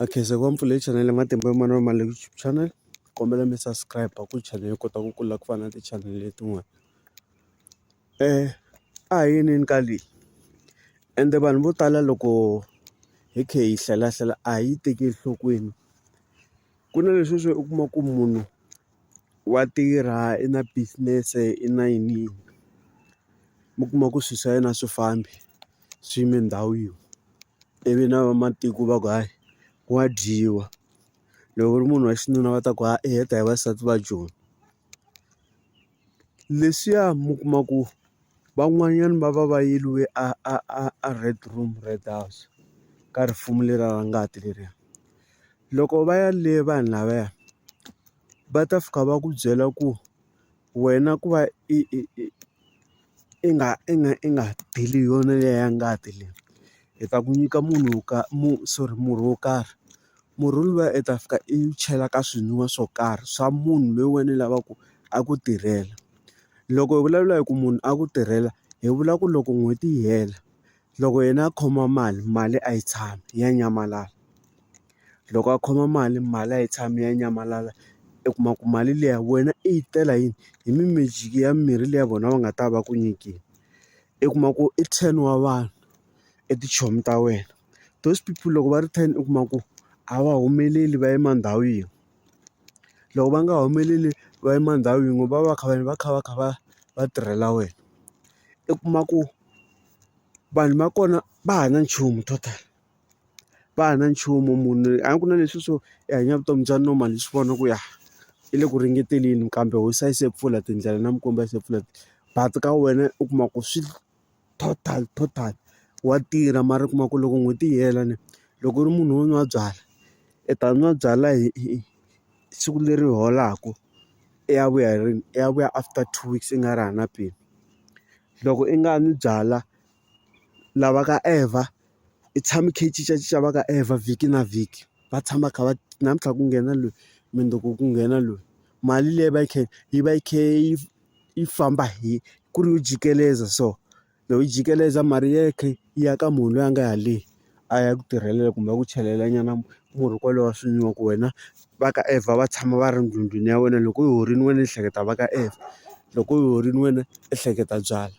A khensa ku va mi pfulele chanel ya matimba ya manana ma YouTube channel kombela mi subscribe ku channel yi kota ku kula ku fana na ti-channel letin'wana a hi yinini ka leyi ende vanhu vo tala loko hi kha hi hlelahlela a hi yi tekeli enhlokweni ku na leswi swo u kuma ku munhu wa tirha i na business-e i na yini mi kuma ku swilo swa yena a swi fambi swi yime ndhawu yin'we ivi na vamatiko va ku hayi wa dyiwa loko u ri munhu wa xinuna va ta ku i heta hi vasati va joni leswiya mi kuma ku. Van'wanyana va va va yeriwe a a a a red room red house ka risimu leriya ra ngati leriya loko va ya le vanhu lavaya va ta fika va ku byela ku wena ku va i i i i nga i nga i nga deli hi yona liya ya ngati leyi hi ta ku nyika munhu wo ka sorry murhi wo karhi. Murhi luwa u ta fika i wu chela ka swinwiwa swo karhi swa munhu loyi wena u lavaka ku a ku tirhela. Loko hi vulavula hi ku munhu a ku tirhela, hi vula ku loko n'hweti yi hela, loko yena a khoma mali, mali a yi tshami ya nyamalala. Loko a khoma mali, mali a yi tshami ya nyamalala. U kuma ku mali liya wena i yi tela hi hi magic-i ya mimirhi leyi ya vona va nga ta va ku nyikile. U kuma ku i ten wa vanhu i tichomi ta wena. those people loko va ri ten u kuma ku a va humeleli va yima ndhawu yin'we loko va nga humeleli va yima ndhawu yin'we va va va kha va va kha va kha va va tirhela wena i kuma ku vanhu va kona va ha na nchumu total va ha na nchumu munhu a ku na leswi swo i hanya vutomi bya normal hi swi vona ku ya i le ku ringeteni kambe hosi a yi se pfula tindlela na mikwembu a yi se pfula but ka wena u kuma ku swi. total total wa tirha mara u kuma ku loko n'hweti yi hela ni loko u ri munhu wo nwa byalwa i ta nwa byalwa hi hi siku leri holaka i ya vuya hi rini i ya vuya after two weeks i nga ri hana peni loko i nga nwi byalwa lava ka ever i tshama i kha i cincacinca va ka ever vhiki na vhiki va tshama kha va namuntlha ku nghena loyi mundzuku ku nghena loyi mali leyi va yi kha yi va yi kha yi. yi famba hi ku ri u jikeleza so loko yi jikeleza mali ya khe yi ya ka munhu loyi a nga ya le a ya ku tirhela kumbe ku chelela nyana murhi kwalowo swi nwiwa ku wena va ka ever va tshama va ri ndlwini ya wena loko yi horile wena ehleketa va ka ever loko yi horile wena ehleketa byalwa.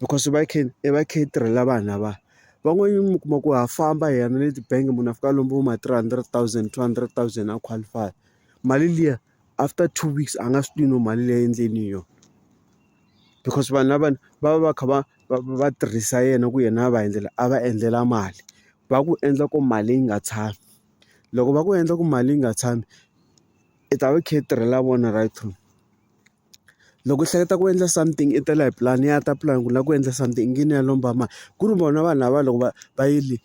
because va khe i va khe i tirhela vanhu lava van'wanyana mi kuma ku ha famba hi ya na le tibangi munhu a fika a lomba vo ma three hundred thousand two hundred thousand a qualify-a mali liya after two weeks a nga swi tivi no mali leyi endleni hi yona because vanhu lavawani va va va kha va va va tirhisa yena ku yena a va endlela a va endlela mali va ku endla ku mali yi nga tshami loko va ku endla ku mali yi nga tshami i ta va i kha i tirhela vona right through. Loko u hleketa ku endla something i tela hi pulani ya ta pulani ku lava ku endla something i nge ni ya lomba mali ku ri vona vanhu lava loko va va yile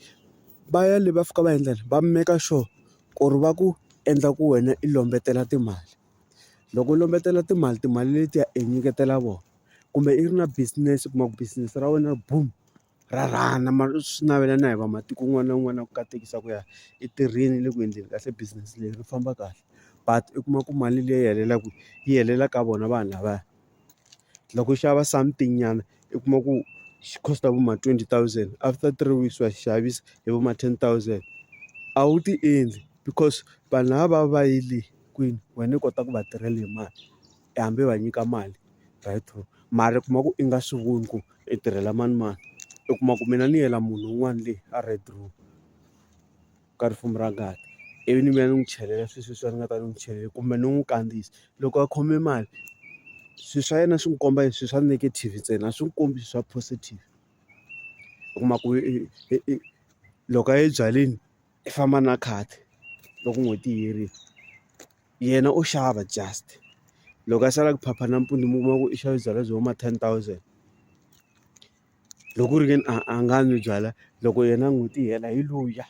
va ya le va fika va endla yini va make sure ku ri va ku endla ku wena i lombetela timali loko u lombetela timali timali letiya i nyiketela vona kumbe i ri na business u kuma ku business ra wena boom. rharhana mara swi navela na hi va matiko un'wana na un'wana ku katekisa ku ya i tirhile le ku endleni kahle business leyi ri famba kahle but u kuma ku mali leyi helelaka yi helela ka vona vanhu lavaya loko u xava something nyana u kuma ku xi cost vo ma twenty thousand after three weeks wa xavisa hi vo ma ten thousand a wu ti endli because vanhu lava va va yile kwini wena u kota ku va tirhela hi mali. hambi va nyika mali right true mara u kuma ku i nga swi voni ku i tirhela manimani u kuma ku mina ni yela munhu un'wana le a red room ka risimu ra ngati ivi ni vuya ni n'wi chelela swilo sweswi a ni nga ta ni n'wi chelela kumbe ni n'wi kandziyisa loko a khome mali swilo swa yena swi n'wi komba hi swilo swa negative ntsena a swi n'wi kombi swilo swa positive u kuma ku i i i loko a ye ebyaleni. i famba na khadi loko n'hweti yi herile yena u xava just loko a sala ku phapha nampundzu mi kuma ku i xave byalwa byi huma ten thousand loko ku ri ke ni a a nga nwi byalwa loko yena n'hweti yi hela hi luya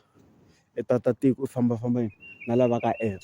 i tata tiko u fambafamba na lava ka app.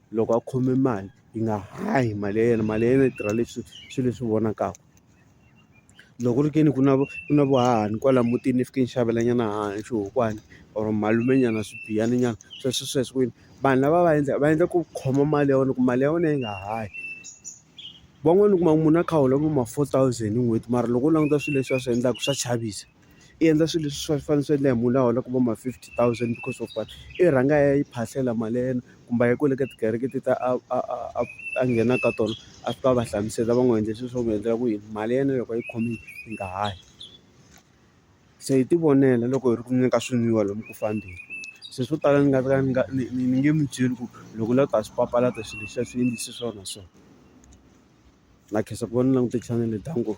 loko a khome mali yi nga hahi mali ya yena mali ya yena yi tirha leswi swilo leswi vonakaka loko ku ri ke ni ku na ku na vuhahani kwala mutini ni fike ni xavela nyana haha xiwokowana or malume nyana swigiyana nyana sweswi sweswi kwini vanhu lava va endla va endla ku khoma mali ya wena ku mali ya wena yi nga hayi van'wani u kuma munhu a kha a hola vo ma four thousand hi n'hweti mara loko u languta swilo leswi va swi endlaka swa chavisa. i endla swilo leswi swi fanele swi endla hi munhu la holaka vo ma fifty thousand because of what i rhanga a ya yi phahlela mali ya yena kumbe a ya kwale ka tikereke ti ta a a a a a nghena ka tona a fika a va hlamusela va n'wi endla swilo swo n'wi endlela ku yini mali ya yena loko a yi khomile yi nga ha yi se hi tivonela loko hi ri ku nweni ka swinwiwa lomu ku fambeni se swo tala ni nga ka ni nga ni ni ni nge mi byeli ku loko u lava ku ta swi papalata swilo leswiya swi endlise so na so na khensa ku va ni langute chanele danko.